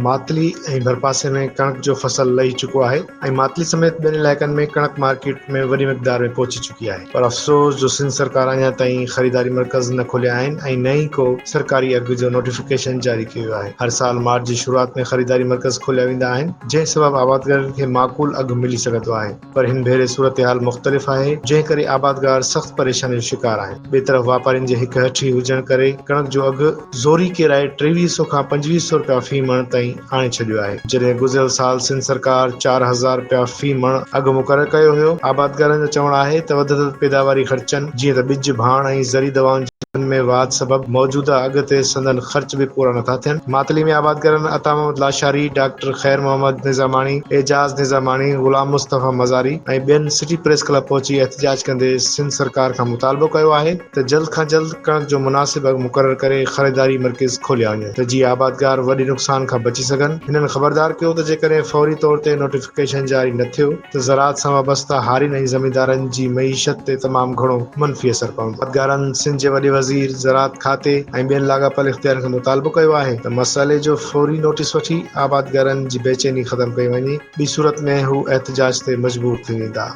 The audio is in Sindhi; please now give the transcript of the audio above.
ماتلي ۽ ڀرپاسي ۾ ڪڻڪ جو فصل لهي چڪو آهي ۽ ماتلي سميت ٻين علائقن ۾ ڪڻڪ مارڪيٽ ۾ وڏي مقدار ۾ پهچي چڪي آهي. پر افسوس جو سنڌ سرڪار اڃا تائين خريداري مرڪز نه کوليا آهن ۽ نه ئي ڪو سرڪاري اگهه جو نوٽيفڪيشن جاري ڪيو ويو آهي. هر سال مارچ جي شروعات ۾ خريداري مرڪز کوليا ويندا آهن، جنهن سبب آبادگارن کي معقول اگهه ملي سگهندو آهي، پر هن ڀيري صورتحال مختلف آهي، جنهن ڪري آبادگار سخت پريشاني جو شڪار آهن. ٻئي طرف واپارين جي هڪ هٺي هجڻ ڪري ڪڻڪ جو اگهه زوري ڪيرائي ٽيويهه سئو کان پنجويهه سئو رپيا في مڻ تائين آڻي ڇڏيو آهي، جڏهن گذريل سال سنڌ سرڪار چار هزار رپيا في مڻ اگهه مقرر ڪيو هيو، آبادگارن جو چوڻ آهي ته وڌندڙ پيداواري خرچن جيئن ته ٻج، ڀاڻ ۽ زرعي دوائن جي اگهن ۾ واڌ سبب موجوده اگهه تي سندن خرچ به پورا نٿا ٿين، ماتلي ۾ آبادگارن عطا محمد لاشاري، ڊاڪٽر خير محمد نظاماڻي، اعجاز نظاماڻي، غلام مصطفيٰ مزاري ۽ ٻين سٽي پريس ڪلب پهچي احتجاج ڪندي سنڌ سرڪار کان مطالبو ڪيو آهي ته جلد کان جلد ڪڻڪ جو مناسب اگهه مقرر ڪري خريداري مرڪز کوليا وڃن ته جيئن آبادگار وڏي نقصان کان بچي سگهن، هنن خبردار ڪيو ته جيڪڏهن فوري طور تي نوٽيفڪيشن جاري نه ٿيو ته زراعت سان وابسته هارين ۽ زميندارن جي معيشت تي تمام گهڻو منفي اثر پوندو. آبادگارن سنڌ جي وڏي وزير، زراعت کاتي ۽ ٻين لاڳاپيل اختيارين کان مطالبو ڪيو آهي ته مسئلي جو فوري نوٽيس وٺي آبادگارن جي بيچيني ختم ڪئي وڃي، ٻي صورت ۾ هو احتجاج تي مجبور ٿي ويندا.